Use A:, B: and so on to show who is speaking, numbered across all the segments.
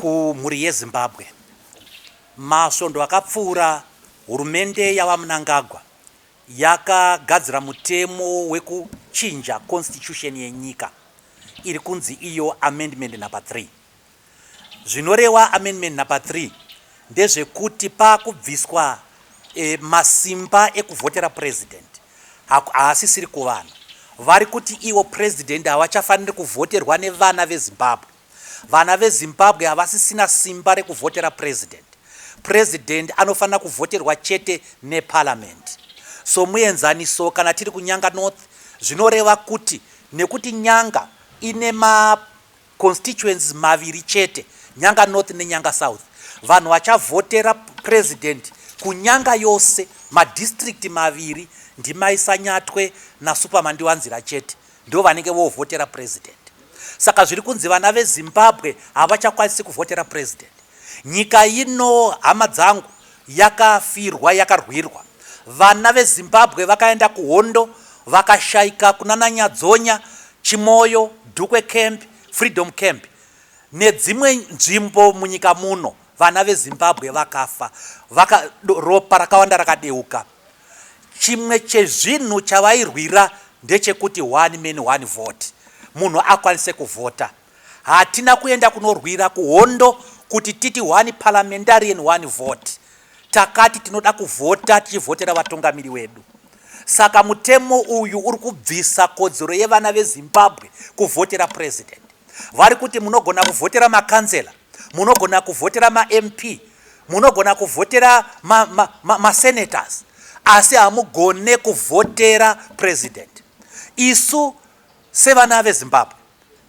A: Kumhuri yeZimbabwe, masvondo akapfuura hurumende yaVaMnangagwa yakagadzira mutemo wekuchinja constitution yenyika iri kunzi iyo Amendment Number 3. Zvinorewa Amendment Number 3 ndezvekuti pakubviswa e, masimba ekuvhotera president haasisiri kuvanhu. Vari kuti ivo president havachafaniri kuvhoterwa nevana veZimbabwe. Vana veZimbabwe havasisina simba rekuvhotera President. President anofanira kuvhoterwa chete neParliament. Somuenzaniso kana tiri kuNyanga North zvinoreva kuti nekuti Nyanga ine ma constituencies maviri chete, Nyanga North neNyanga South, vanhu vachavhotera President kuNyanga yose madistrict maviri ndiMai Sanyatwe naSuperman Ndiwanzira chete. Ndovanenge vovhotera president saka zviri kunzi vana vezimbabwe havachakwanisi kuvhotera president nyika ino hama dzangu yakafirwa yakarwirwa vana vezimbabwe vakaenda kuhondo vakashaika kunana nyadzonya chimoyo dukwe camp freedom camp nedzimwe nzvimbo munyika muno vana vezimbabwe vakafa vaka ropa rakawanda rakadeuka Chimwe chezvinhu chavairwira ndechekuti one man one vote munhu akwanise kuvhota. Hatina kuenda kunorwira kuhondo kuti titi one parliamentarian one vote. Takati tinoda kuvhota tichivhotera vatungamiri wedu. Saka mutemo uyu uri kubvisa kodzero yevana veZimbabwe kuvhotera president. Vari kuti munogona kuvhotera makanzela, munogona kuvhotera maMP, Munogona kuvhotera ma, ma, ma, ma senators asi hamugone kuvhotera president. Isu sevana veZimbabwe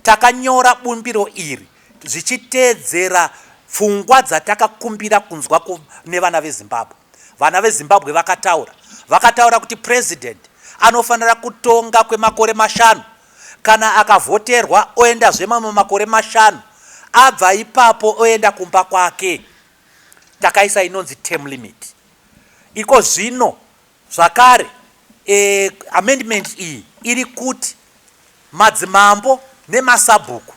A: takanyora bumbiro iri zvichiteedzera pfungwa dzatakakumbira kunzwa nevana veZimbabwe. Vana veZimbabwe vakataura, vakataura kuti president anofanira kutonga kwemakore mashanu Kana akavhoterwa oendazve mamwe makore mashanu abva ipapo oenda kumba kwake. Takaisa inonzi term limit. Iko zvino zvakare e, amendment iyi iri kuti madzimambo nemasabhuku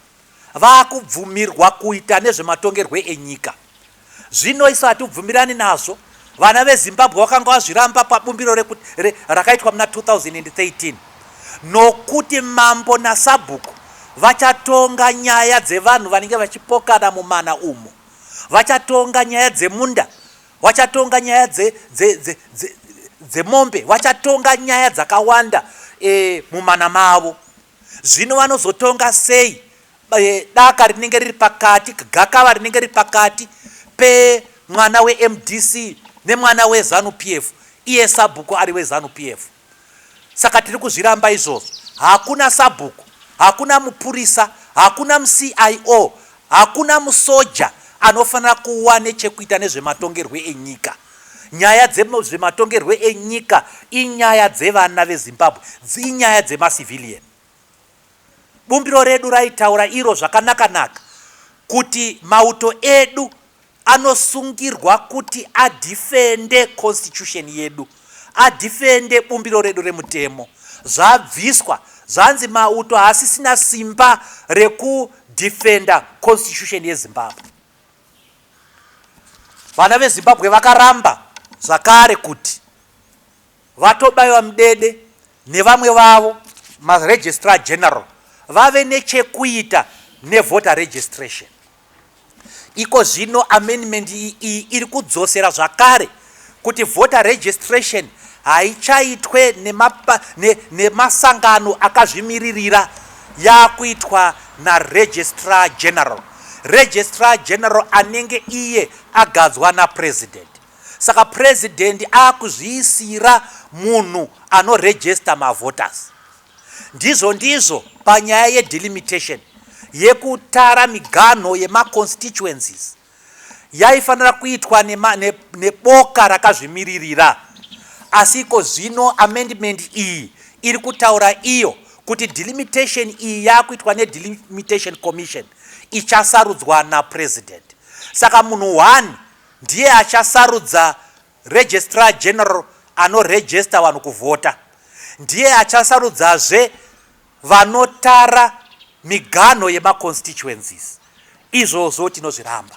A: vakubvumirwa kuita nezvematongerwe enyika Zvino isu hatibvumirani nazvo. Vana veZimbabwe vakanga vazviramba pabumbiro rakaitwa muna 2013 nokuti mambo nasabhuku vachatonga nyaya dzevanhu vanenge vachipokana mumana umu, vachatonga nyaya dzemunda, vachatonga nyaya dzemombe, vachatonga nyaya dzakawanda eh, mumana mavo. Zvino vanozotonga sei daka rinenge riri pakati, gakava rinenge riri pakati pemwana weMDC nemwana weZanu PF, iye sabhuku ari weZanu PF. Saka tiri kuzviramba izvozvo. Hakuna sabhuku, hakuna mupurisa, hakuna muCIO, hakuna musoja anofanira kuva nechekuita nezvematongerwe enyika. Nyaya dzezvematongerwe enyika inyaya dzevana veZimbabwe, inyaya dzemacivilian. Bumbiro redu raitaura iro zvakanaka-naka kuti mauto edu anosungirwa kuti adhifende constitution yedu, adhifende bumbiro redu remutemo. Zvabviswa, zvanzi mauto haasisina simba rekudhifenda constitution yeZimbabwe. Vana veZimbabwe vakaramba zvakare kuti VaTobaiwa Mudede nevamwe vavo maRegistrar General vave nechekuita nevoter registration. Iko zvino amendment iyi iri kudzosera zvakare kuti voter registration haichaitwe nemasangano akazvimiririra yakuitwa naregistrar general registrar general anenge iye agadzwa napresident saka president akuzviisira munhu anoregista mavoters ndizvo ndizvo panyaya yedelimitation yekutara miganho yemaconstituencies Yaifanira kuitwa nema, ne, neboka rakazvimiririra. Asi iko zvino amendment iyi iri kutaura iyo kuti delimitation iyi yakuitwa nedelimitation commission ichasarudzwa napresident. Saka munhu one ndiye achasarudza registrar general anoregister vanhu kuvhota, ndiye achasarudzazve Vanotara miganho yema constituencies izvozvo tinozviramba.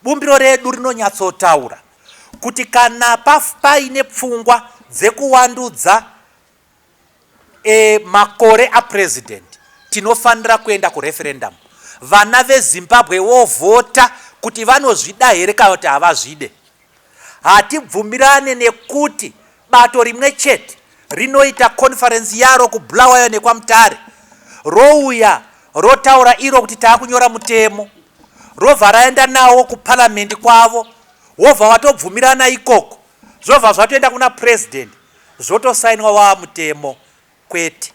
A: Bumbiro redu rinonyatsotaura kuti kana paine pfungwa dzekuwandudza e, makore aPresident tinofanira kuenda kureferendum. Vana veZimbabwe vovhota kuti vanozvida here kana kuti havazvide. Hatibvumirane nekuti bato rimwe chete rinoita conference yaro kuBulawayo nekwaMutare, rouya rotaura iro kuti takunyora mutemo, robva raenda nawo kuparliament kwavo, wobva watobvumirana ikoko, zvobva zvatoenda kuna president, zvotosainwa wava mutemo. Kwete.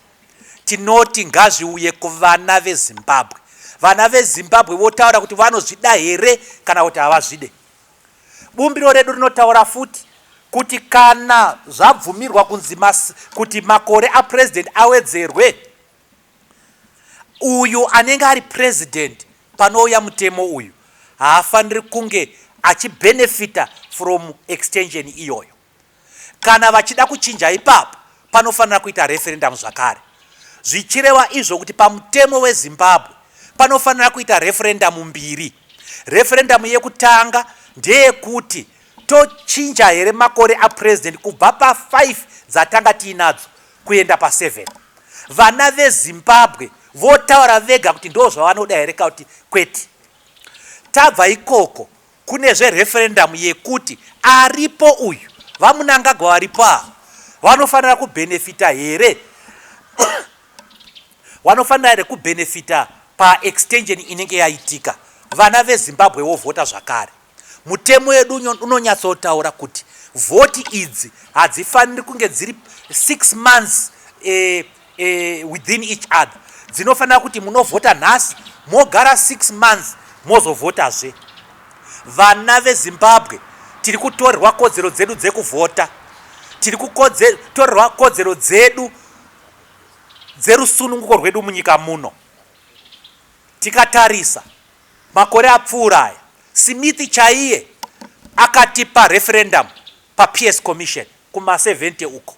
A: Tinoti ngazviuye kuvana veZimbabwe, vana veZimbabwe votaura kuti vanozvida here kana kuti havazvide. Bumbiro redu rinotaura futi kuti kana zvabvumirwa kunzi kuti makore apresident awedzerwe, uyu anenge ari president panouya mutemo uyu haafaniri kunge achibenefita from extension iyoyo. Kana vachida kuchinja ipapo panofanira kuita referendamu zvakare. Zvichireva izvo kuti pamutemo weZimbabwe panofanira kuita referendamu mbiri. Referendamu yekutanga ndeyekuti tochinja here makore apresident kubva pa5 dzatanga tiinadzo kuenda pa7. Vana veZimbabwe votaura vega kuti ndozvavanoda here ka kuti kwete. Tabva ikoko Kune zve referendum yekuti aripo uyu vamunangagwa varipo ava vanofanira ku benefita here wanofanira here ku benefita pa extension inenge yaitika vana ve Zimbabwe vovhota zvakare mutemo yedu unonyatsotaura kuti vhoti idzi hadzifaniri kunge dziri six months eh, eh, within each other dzinofanira kuti munovhota nhasi mogara 6 months mozovhotazve vana vezimbabwe tiri kutorerwa kodzero dzedu dzekuvhota tiri kutorerwa kodzero dzedu dzerusununguko rwedu munyika muno tikatarisa makore apfuura aya simithi chaiye akatipa referendamu paps commission kuma 70 uko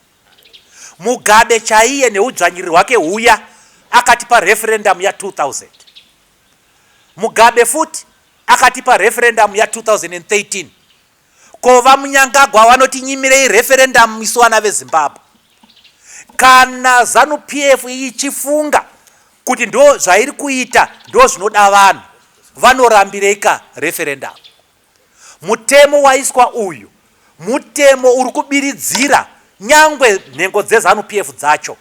A: Mugabe chaiye nehudzvanyiriri hwake huya akatipa referendum ya 2000. Mugabe futi akatipa referendum ya 2013. Ko vamunyangagwa vanoti nyimirei referendum isu vana vezimbabwe. Kana zanu PF ichifunga kuti ndo zvairi kuita ndo zvinoda vanhu vanorambirei ka referendum. Mutemo waiswa uyu mutemo uri kubiridzira nyangwe nhengo dzeZanu PF dzacho.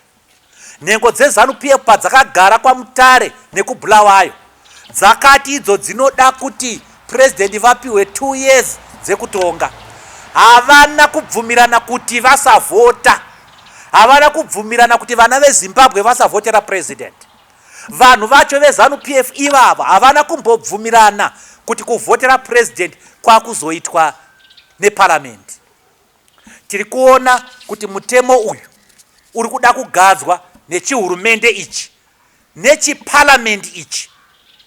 A: Nhengo dzeZanu PF padzakagara kwaMutare nekuBulawayo dzakati idzo dzinoda kuti President vapihwe two years dzekutonga. Havana kubvumirana kuti vasavhota. Havana kubvumirana kuti vana veZimbabwe vasavhotera President. Vanhu vacho veZanu PF ivavo havana kumbobvumirana kuti kuvhotera President kwakuzoitwa neParliament. Tiri kuona kuti mutemo uyu uri kuda kugadzwa nechihurumende ichi nechiParliament ichi,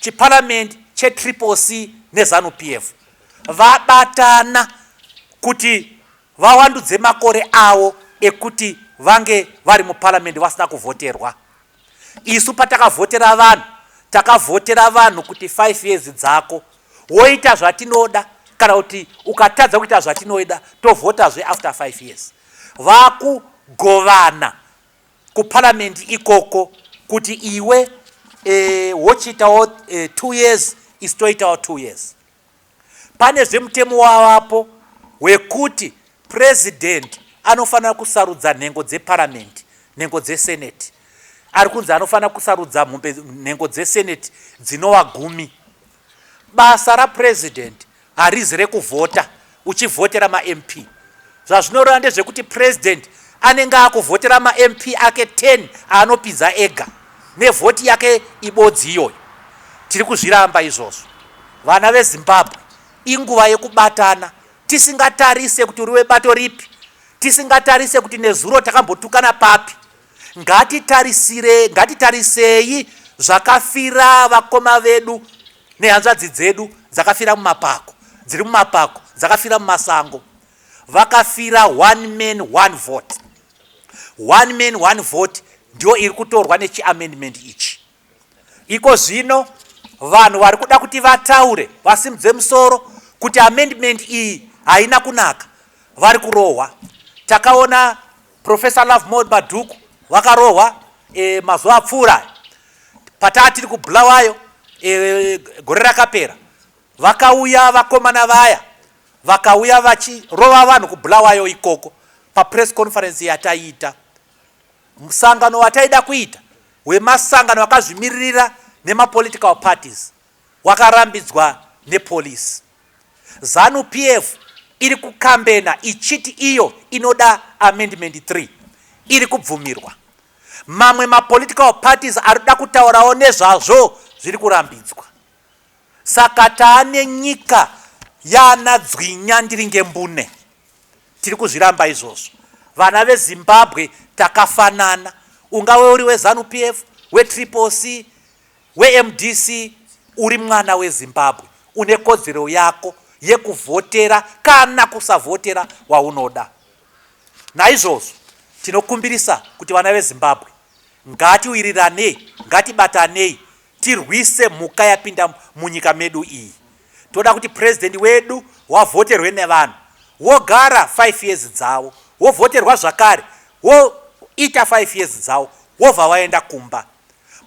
A: chiParliament cheTriple C neZanu PF vabatana kuti vawandudze makore avo ekuti vange vari muParliament vasina kuvhoterwa. Isu patakavhotera vanhu takavhotera vanhu kuti five years dzako woita zvatinoda kana kuti ukatadza kuita zvatinoida tovhotazve after five years vakugovana kuparliament ikoko kuti iwe eh, wochiitawo eh, two years isu toitawo two years Pane zve mutemo wavapo wekuti president anofanira kusarudza nhengo dze parliament, nhengo dze senate. Ari kunzi anofanira kusarudza mhombe nhengo dze senate dzinova gumi. Basa ra president harizi rekuvhota uchivhotera ma MP. Zvazvinoreva ndezvekuti President anenge akuvhotera maMP ake 10 aanopinza ega nevhoti yake ibodzi iyoyo. Tiri kuzviramba izvozvo. Vana veZimbabwe, inguva yekubatana tisingatarise kuti uri webato ripi, tisingatarise kuti nezuro takambotukana papi. Ngatitarisire, ngatitarisei zvakafira vakoma vedu. Nehanzvadzi dzedu dzakafira mumapako, dziri mumapako, dzakafira mumasango. Vakafira one man one vote. One man one vote ndiyo iri kutorwa nechiamendment ichi. Iko zvino vanhu vari kuda kuti vataure vasimudze musoro kuti amendment iyi haina kunaka vari kurohwa. Takaona Professor Lovemore Madhuku wakarohwa e, mazuva apfuura pataa tiri kuBulawayo e, gore rakapera vakauya vakomana vaya vakauya vachirova vanhu kuBulawayo ikoko papress conference yataiita musangano wataida kuita wemasangano akazvimiririra nemapolitical parties wakarambidzwa nepolice. Zanu PF iri kukambena ichiti iyo inoda amendment 3 iri kubvumirwa. Mamwe mapolitical parties ari kuda kutaurawo nezvazvo zviri kurambidzwa. Saka taane nyika yaana dzwinya ndiri ngembune. Tiri kuzviramba izvozvo. Vana veZimbabwe takafanana. Ungave uri weZanu PF, weTriple C, WeMDC uri mwana weZimbabwe une kodzero yako yekuvhotera kana kusavhotera waunoda. Naizvozvo tinokumbirisa kuti vana veZimbabwe ngatiwiriranei, ngatibatanei tirwise mhuka yapinda munyika medu iyi. Toda kuti President wedu wavhoterwe nevanhu wogara five years dzavo, wovhoterwa zvakare woita five years dzavo wobva waenda kumba.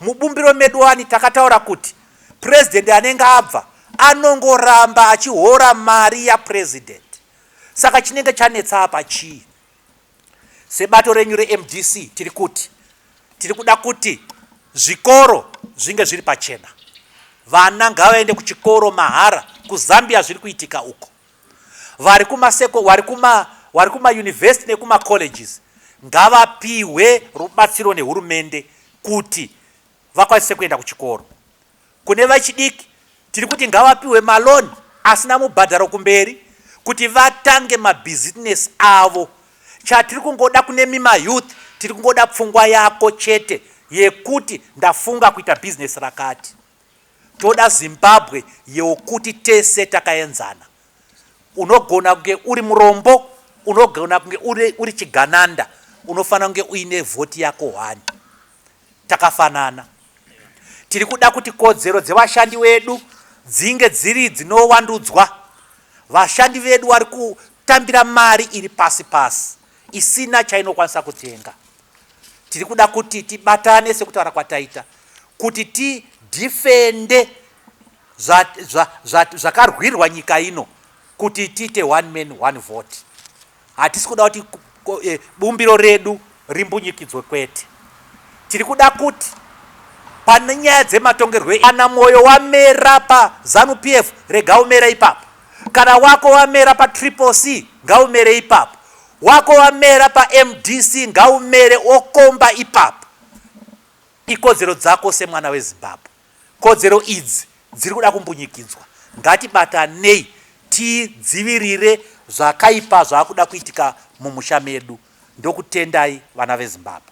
A: Mubumbiro medu wani takataura kuti president anenge abva anongoramba achihora mari yapresident saka chinenge chanetsa apa chii? Sebato renyu reMDC tiri kuti tiri kuda kuti zvikoro zvinge zviri pachena. Vana ngavaende kuchikoro mahara, kuZambia zviri kuitika uko. Vari kuma seko, vari kuma, vari kuma university nekuma colleges ngavapihwe rubatsiro nehurumende kuti vakwanise kuenda kuchikoro. Kune vechidiki tiri kuti ngavapihwe maloan asina mubhadharo kumberi kuti vatange mabusiness avo. Chatiri kungoda kune mima youth tiri kungoda pfungwa yako chete yekuti ndafunga kuita business rakati. Toda Zimbabwe yokuti tese takaenzana. Unogona kunge uri murombo, unogona kunge uri, uri chigananda, unofanira kunge uine vhoti yako hwani. Takafanana. Tiri kuda kuti kodzero dzevashandi wedu dzinge dziri dzinowandudzwa. Vashandi vedu vari kutambira mari iri pasi pasi isina chainokwanisa kutenga. Tiri kuda kuti tibatane sekutaura kwataita kuti tidhifende zvakarwirwa nyika ino kuti tiite one man one vote. Hatisi kuda kuti eh, bumbiro redu rimbunyikidzwe kwete. Tiri kuda kuti pane nyaya dzematongerwo e-, kana mwoyo wamera pazanu p f rega umere ipapo kana wako wamera patriple c ngaumere ipapo Wako wamera pa mdc ngaumere wokomba ipapo. Ikodzero dzako semwana we Zimbabwe. Kodzero idzi dziri kuda kumbunyikidzwa. Ngatibatanei tidzivirire zvakaipa zvakuda kuitika mumusha medu. Ndokutendai vana ve Zimbabwe.